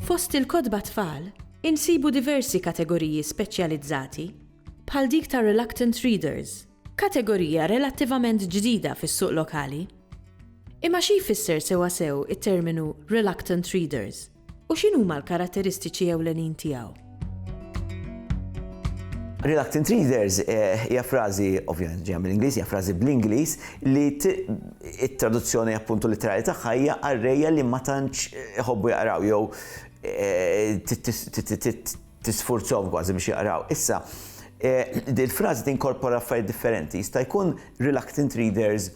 Fost il-kotba tfal, insibu diversi kategoriji speċjalizzati, bħal dik ta' reluctant readers, kategorija relattivament ġdida fis-suq lokali. Imma xi jfisser sewwasew it-terminu reluctant readers? U x'inhuma l-karatteristiċi ewlenin tiegħu? Reluctant readers eh, hija frażi, ovvjament ġejja mill-Ingliż, hija frażi bl-Ingliż li it-traduzzjoni appuntu literali tagħha hija qarrejja li ma tantx eh, iħobbu jaqraw jew eh, tisfurzhom kważi biex jaqraw. Issa, il-frażi tinkorpora affarijiet differenti, jista' jkun reluctant readers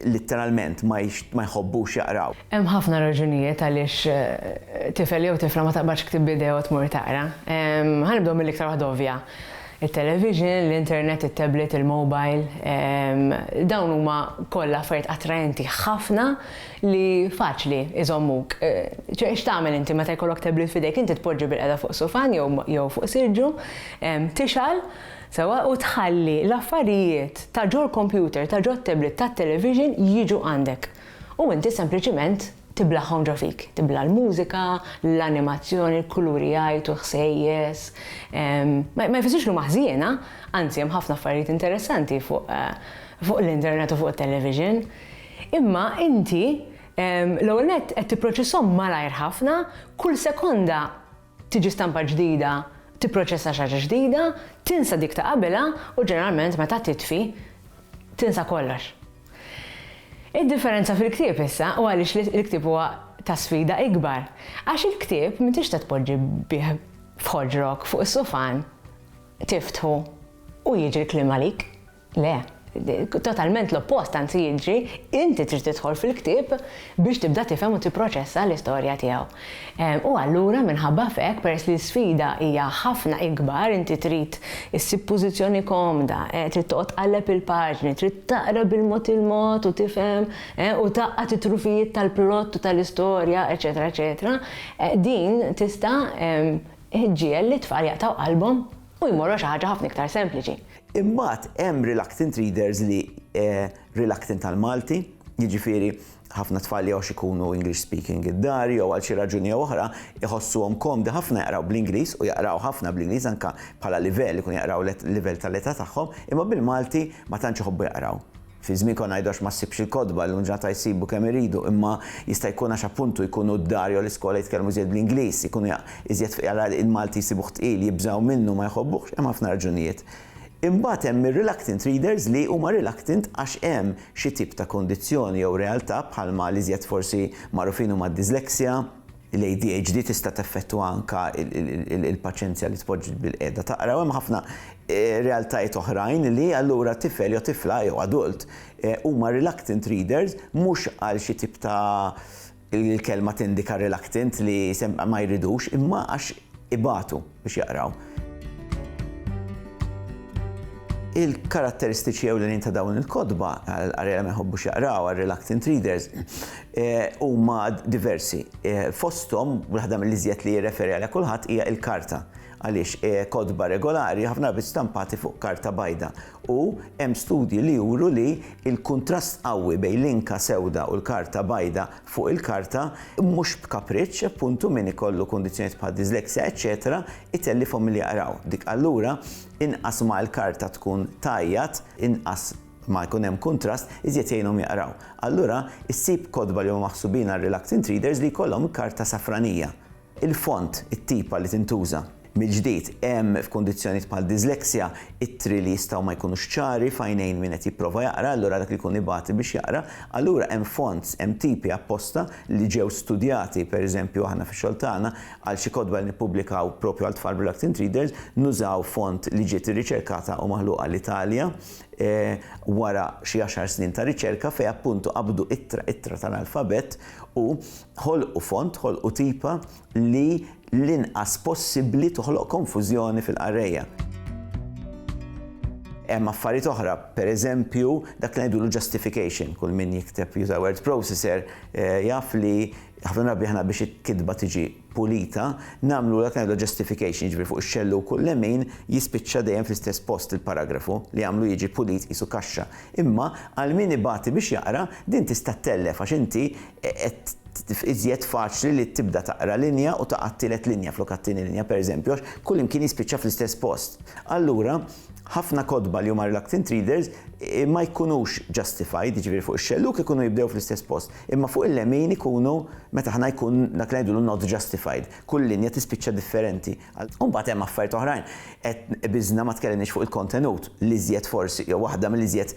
litteralment ma jħobbux jaqraw. Hemm ħafna raġunijiet għaliex tifel jew tifla ma taqbadx ktieb b'idejha u tmur taqra. Ħa nibdew mill-iktar waħda ovvja. It-television, l-internet, it-tablet, il-mobile, dawn huma kollha affarijiet attraenti ħafna li faċli jżommuk. X'tagħmel inti meta jkollok tablet f'idejk? Inti tpoġġi bilqiegħda fuq sufan jew fuq siġġu, tixgħal, Sewwa u tħalli l-affarijiet ta' ġol-kompjuter, ta' ġot-tablet, tat-television jiġu għandek. U inti sempliċiment tiblaghom ġo fik. Tibla' l-mużika, l-animazzjoni, l-kuluri jgħajtu, l-ħsejjes. Ma jfissirx li huma ħżiena, anzi hemm ħafna affarijiet interessanti fuq fuq l-internet u fuq it-television. Imma inti l-ewwel nett qed tipproċesshom malajr ħafna, kull sekonda tiġi stampa ġdida, tipproċessa xi ħaġa ġdida, tinsa dik ta' qabilha u ġeneralment meta titfi, tinsa kollox. Id-differenza fil-ktieb issa u għaliex l-ktieb huwa ta' sfida ikbar, għax il-ktieb m'intix tista' tpoġġi bih f'ħoġrok fuq is-sufan, tiftħu u jiġri l-kliem għalik. Le, totalment l-oppost anzi jiġri, inti trid tidħol fil-ktieb biex tibda tifhem u tipproċessa l-istorja tiegħu. U allura minħabba f'hekk, peress li l-isfida hija ħafna ikbar, inti trid issib pożizzjoni komda, trid toqgħod tqalleb il-paġni, trid taqra bil-mod il-mod u tifhem u tgħaqqad it-trufijiet tal-plott u tal-istorja, eċċetera eċċetera, din tista' ġġiegħel lit-tfal jaqtgħu qalbhom U jmorru għal xi ħaġa ħafna iktar sempliċi. Imbagħad hemm reluctant readers li reluctant għall-Malti, jiġifieri ħafna tfal li għax ikunu English speaking id-dar jew għal xi raġuni jew oħra jħossuhom komdi ħafna jaqraw bl-Ingliż u jaqraw ħafna bl-Ingliż anke bħala livell ikun jaqraw livell tal-età tagħhom, imma bil-Malti ma tantx iħobbu jaqraw. Fi żmien konna ngħidu għax ma ssibx il-kotba, llum ġurnata jsibu kemm iridu, imma jista' jkun għax appuntu jkunu d-dar jew l-iskola jitkellmu iżjed bl-Ingliż, ikunu iżjed fqira l-Malti jsibuh tqil, jibżgħu minnu, ma jħobbuhx, hemm ħafna raġunijiet. Imbagħad hemm ir-reluctant readers li huma reluctant għax hemm xi tip ta' kundizzjoni jew realtà bħalma l-iżjed forsi magħrufin huma d-dyslexia, L-ADHD tista' teffettwa anke l-paċenzja li tpoġġi bil-qiegħda taqra u hemm ħafna realtajiet oħrajn li allura tifel jew tifla jew adult huma reluctant readers mhux għal xi tip ta' il-kelma tindika reluctant li ma jridux imma għax ibatu. biex jaqraw. Il-karatteristiċi ewlenin ta' dawn il-kotba, għall-qari li ma jħobbux jaqraw, għar-reluctant readers, huma diversi. Fosthom, waħda mill-iżjed li jirreferi għaliha kulħadd hija l-karta. Għaliex kotba regolari ħafna drabi stampati fuq karta bajda u hemm studji li juru li l-kuntrast qawwi bejn l-inka sewda u l-karta bajda fuq il-karta, mhux b'kapriċċ, appuntu, min ikollu kundizzjonijiet bħal dislexia, eċċetera, itellifhom milli jaqraw. Dik allura, inqas ma l-karta tkun tgħajjat, inqas ma jkun hemm kuntrast, iżjed jgħinhom jaqraw. Allura, issib kotba li huma maħsubin għal reluctant readers li jkollhom karta safranija. Il-font, it-tipa li tintuża. Mill-ġdid, hemm, f'kundizzjonijiet bħal dyslexia, ittri li jistgħu ma jkunux ċari f'għajnejn min qed jipprova jaqra, allura dak li jkun ibati biex jaqra. Allura hemm fonts, hemm tipi apposta li ġew studjati, pereżempju aħna fix-xogħol tagħna, għal xi kotba li nippubblikaw propju għal tfal b'reluctant readers, nużaw font li ġiet irriċerkata u maħluqa l-Italja wara xi għaxar snin ta' riċerka fejn appuntu qabdu ittra ittra tal-alfabett u Ħolqu font, ħolqu tipa li l-inqas possibbli toħloq konfużjoni fil-qarrejja. Hemm affarijiet oħra, pereżempju, dak li ngħidulu justification, kull min jikteb juża word processor eh, jaf li ħafna drabi aħna biex il-kitba tiġi pulita, namlu dak ngħidu justification, jiġri fuq ix-xellu kull lemin jispiċċa dejjem fl-istess post il-paragrafu li għamlu jiġi pulit qisu kaxxa. Imma għal min ibati biex jaqra din tista' tellef għax inti qed tkun iżjed faċli li tibda taqra linja u taqa' t-tielet linja flok għat-tieni linja, pereżempju, għax kullimkien jispiċċa fl-istess post. Allura, ħafna kotba li huma reluctant readers ma jkunux justified, jiġifieri fuq ix-xellug ikunu jibdew fl-istess post, imma fuq il-lemin ikunu meta aħna jkun dak li ngħidulu not justified, kull linja tispiċċa differenti. U mbagħad hemm affarijiet oħrajn, qed biżna ma tkellimniex fuq il-kontenut, l-iżjed forsi jew waħda mill-iżjed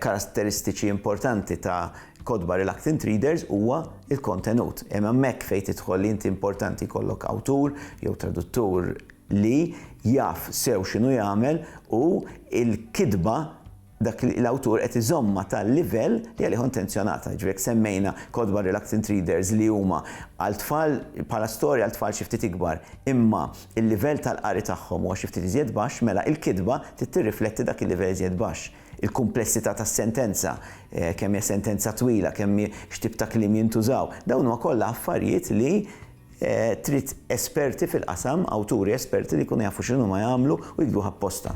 karatteristiċi importanti ta' Kotba Reluctant Readers huwa l-kontenut. Hemm hemmhekk fejn tidħol li inti importanti jkollok awtur jew traduttur li jaf sew x'inhu jagħmel u l-kitba dak l-awtur qed iżommha tal-livell li għalih hu intenzjonata. Jiġifieri jekk semmejna Kotba Reluctant Readers li huma għal tfal bħala storja għal tfal xi ftit ikbar imma l-livell tal-qari tagħhom huwa xi ftit iżjed baxx mela l-kitba trid tirrifletti dak il-livell iżjed baxx. il-kumplessità tas-sentenza, kemm hija sentenza twila, kemm hi, x'tip ta' kliem jintużaw, dawn huma kollha affarijiet li trid esperti fil-qasam, awturi esperti li jkunu jafu x'inhuma jagħmlu u jiktbuh apposta.